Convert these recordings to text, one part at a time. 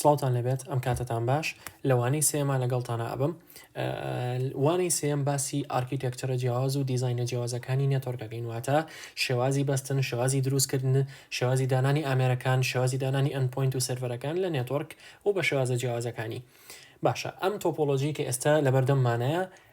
سڵاوتان لەبێت ئەم کاتتان باش لەوانەی سێما لەگەڵتانە ئەبم وانەی سێم باسی ئارکیتێکچرە جیاواز و دیزینە جیاوازەکانی نێتۆرگەکەین واتە شێوازی بەستن شێوازی دروستکردن شێوازی دانانی ئامێرەکان شێوازی دانانی ئەنپۆینت و سرڤەرەکان لە نێتۆرک و بە شێوازە جیاوازەکانی باشە ئەم تۆپۆلۆژی کە ئێستا لەبەردەممانەیە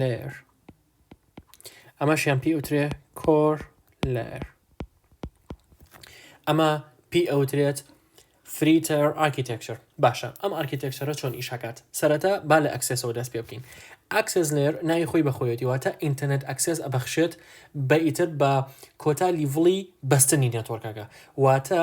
لێر ئەمەشیان پێی ئەوترێ کۆر لێر ئەمە پێی ئەوترێت فریتەر ئاکیتێکچر باشە ئەم ئارکیتێکچرە چۆن ئیشاکات سەرەتا با لە ئەکسسەوە دەست پێ بکەین ئەکسس لێر ناوی خۆی بەخۆیەتی واتە ئینتەرنێت ئەکسس ئەبەخشێت بە ئیتر بە کۆتا لیڤڵی بەستنی نێتۆرکەکە واتە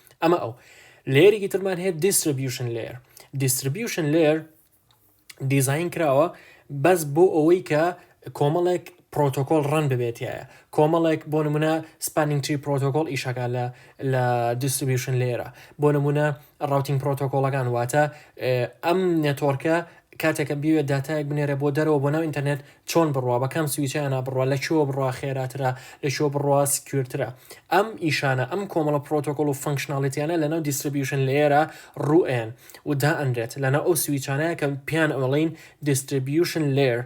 ئەمە ئەو لێرێکی ترمان هەیە دیستربیوشن لێر دیستربیوشن لێر دیزین کراوە بەس بۆ ئەوەی کە کۆمەڵێک پرۆتۆکۆل ڕەن ببێتە کۆمەڵێک بۆ نمونە سپانینگ تری پرۆتۆکۆل ئیشەکە لە لە دیستریبیوشن لێرە بۆ نمونە ڕوتین پرۆتۆکۆلەکان واتە ئەم نێتۆرکە کاتێک کە بیەوێت داتایەک بنێرێ بۆ دەرەوە بۆ ناو ئینتەرنێت چۆن بڕوا بە کام سویچیانە بڕوا لە کوێوە بڕوا خێراترە لە کوێوە بڕوا سکیورترە ئەم ئیشانە ئەم کۆمەڵە پرۆتۆکۆڵ و فەنکشناڵیتیانە لەناو دیستریبیوشن لەیەرە ڕوئێن و دائەنرێت لەناو ئەو سویچانەیە کە پێیان ئەڵین دیستریبیوشن لەیەر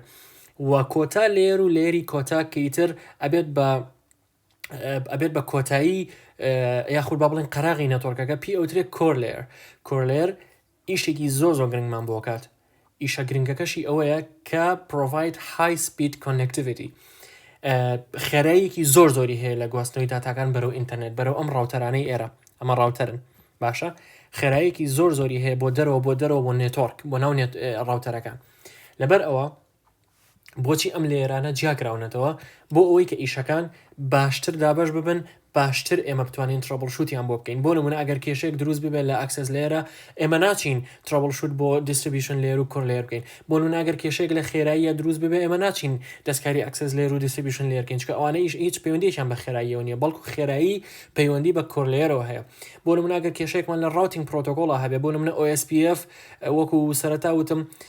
و کۆتا لەیەر و لەیەری کۆتا کە ئیتر ئەبێت بە ئەبێت بە کۆتایی یاخود با بڵین قەراغی نەتۆرکەکە پێ ئەوترێت کۆرلێر کۆرلێر ئیشێکی زۆ زۆ گرنگمان بۆکات ئیشە گرنگەکەشی ئەوەیە کە پرۆڤایت های سپید کۆننەکتیڤیتی خێرەیەکی زۆر زۆری هەیە لە گواستنەوەی داتاکان بەرەو ئینتەرنێت بەرەو ئەم ڕاوتەرانەی ئێرە ئەمە ڕاوتەرن باشە خێرایەکی زۆر زۆری هەیە بۆ دەرەوە بۆ دەرەوە بۆ نێتۆرک بۆ ناو ڕاوتەرەکان لەبەر ئەوە بۆچی ئەم لەیەرانە جیاکراونەتەوە بۆ ئەوەی کە ئیشەکان باشتر دابش ببن باشتر ئێمە بتوانین ترەبڵ شووتیان بۆ بکەین بۆ نمونە ئەگەر کێشێک دروست ببێت لە ئەکسس لێرە ئێمە ناچین ترەبڵ شووت بۆ دیستریبیشن لێر و کۆر لێر بکەین بۆ نوناگەر کێشێک لە خێراییە دروست ببێ ئێمە ناچین دەستکاری ئەکسس لێر و دیستریبیشن لێرکەین چکە ئەوانەیش هیچ پەیوەندیشان بە خێراییەوە نیە بەڵکو خێرایی پەیوەندی بە کۆرلێرەوە هەیە بۆ نموناگەر کێشێکمان لە ڕاوتنگ پرۆتۆکۆڵە هەبێ بۆ نمونە OSPF وەکو سەرتا وتم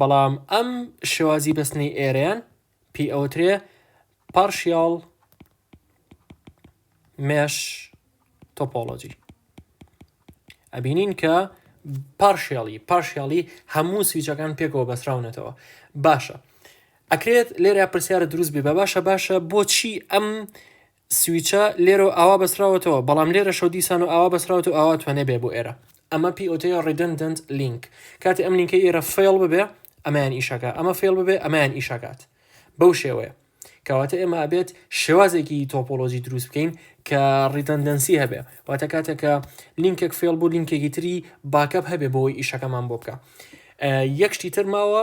بەڵام ئەم شێوازی بەستنەی ئێرەیان پێی ئەوترێ پارشیاڵ مێش تۆپۆلۆجی ئەبینین کە پارشیاڵی پارشیاڵی هەموو سویچەکان پێکەوە بەسراونەتەوە باشە ئەکرێت لێرە پرسیارە دروست بێ بە باشە باشە بۆچی ئەم سویچە لێرە و ئاوا بەستراوەتەوە بەڵام لێرەشە و دیسان و ئاوا بەستراوەتەوە ئاوا توێنێ بێ بۆ ئێرە ئەمە پێی ئەوترێ ڕیدندنت لینک کاتێ ئەم لینکە ئێرە فەیڵ ببێ ئەمەیان ئیشەکە ئەمە فەیڵ ببێ ئەمەیان ئیشەکات بەو شێوەیە کەواتە ئێمە ئەبێت شێوازێکی تۆپۆلۆژی دروست بکەین کە ڕیتەندەنسی هەبێ واتە کاتێکە لینکێک فێڵ بوو لینکێکی تری باکەپ هەبێ بۆی ئیشەکەمان بۆ بکە یەکشتی تر ماوە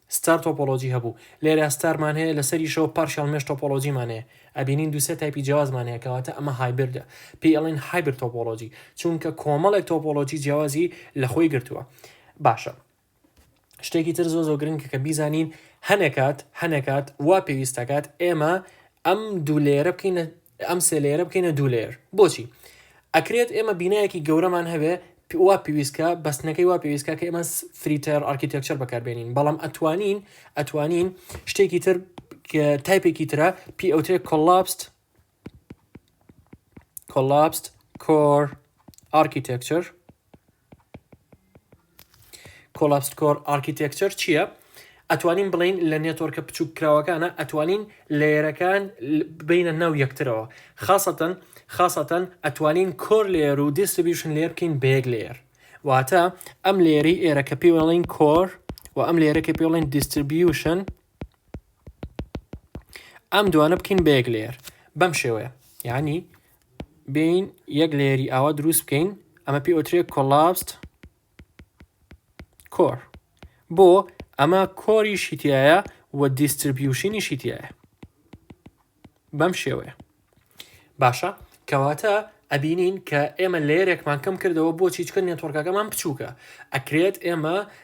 ستار تۆپۆلۆجی هەبوو لێرە ستارمان هەیە لەسەریشەوە پارشیاڵ مێش تۆپۆلۆجیمان هەیە ئەبینین دوو سێ تایپی جیاوازمان هەیە کەواتە ئەمە هایبردە پێی ئەڵێن هایبرد تۆپۆلۆجی چونکە کۆمەڵێک تۆپۆلۆجی جیاوازی لەخۆی گرتووە باشە شتێکی تر زۆ زۆ گرنگکە کە بیزانین هەنێکات هەنێکات وا پێویستەکات ئێمە ئەم دوو لێرە بکەینە ئەم سێ لەیەرە بکەینە دوو لەیەر بۆچی ئەکرێت ئێمە بینایەکی گەورەمان هەبێ وا پێویستکە بەستنەکەی وا پێویستکە کە ئێمە فریتەر ئارکیتەکچەر بەکاربێنین بەڵام ئەتوانین ئەتوانین شتێکی تر تایپێکی ترە پی ئەوترێ کۆلاپست کۆلاپست کۆر ئارکیتەکچەر Collapsed Core Architecture چیە؟ ئەتوانین بڵێین لە نێتۆرکە بچوک کراوەکانە ئەتوانین لەیەرەکان بینە ناو یەکترەوە خاسەتەن خاسەتەن ئەتوانین کۆر لێر و دیستریبیوشن لێر بکەین بە یەک لێر واتە ئەم لێری ئێرە کە پێڵین کۆر و ئەم لێرە کە پێڵین دیستریبیوشن ئەم دوانە بکەین بە یەک لێر بەم شێوەیە یعنی بێین یەک لێری ئاوا دروست بکەین ئەمە پێ ئۆترێک کۆلاست کۆر بۆ ئەمە کۆری شیتایە و دیستربیوشنی شیتایە بەم شێوەیە باشە کەواتە ئەبینین کە ئێمە لێرێکمان کەم کردەوە بۆ چیچکە نێتۆرکەکەمان بچووکە ئەکرێت ئێمە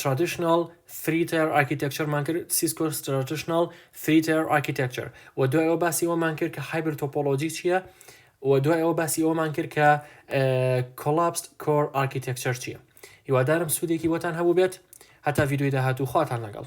ترادیشناڵ فری تایەر ئارکیتێکچەرمان کرد سیسکۆ ستراتیشناڵ فری تایەر ئارکیتێکچەر و دوای ئەوە باسی ئەومان کرد کە هایبر تۆپۆلۆجی چییە و دوای ئەوە باسی ئەومان کرد کە کۆلاپست کۆر ئارکیتێکچەر چییە هیوادارم سوودێکی بۆتان هەبوو بێت هەتا ڤیددیوی داهاتوو خواتان لەگەڵ